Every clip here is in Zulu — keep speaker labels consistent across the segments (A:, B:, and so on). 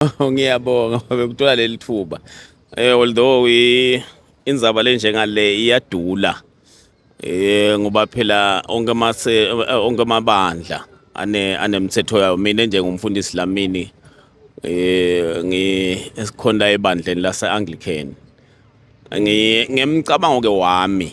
A: ngiyabonga bekuthola leli thuba eh although inzaba le njengale iyadula eh ngoba phela onke mase eh, onke amabandla ane anemthetho yawo mina njengomfundisi lamini eh ngi esikhonda ebandleni lase Anglican ngi ngemcabango ke wami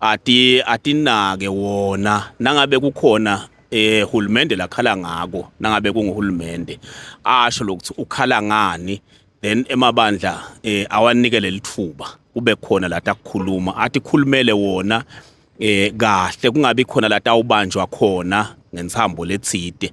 A: ati atinake wona nangabe kukhona eh hulumende lakhala ngako nangabe kunguhulumende asho lokuthi ukhala ngani then emabandla eh awanike lelithuba kube khona la takukhuluma athi khulumele wona eh kahle kungabi khona la tawubanjwa khona ngentsambo letsite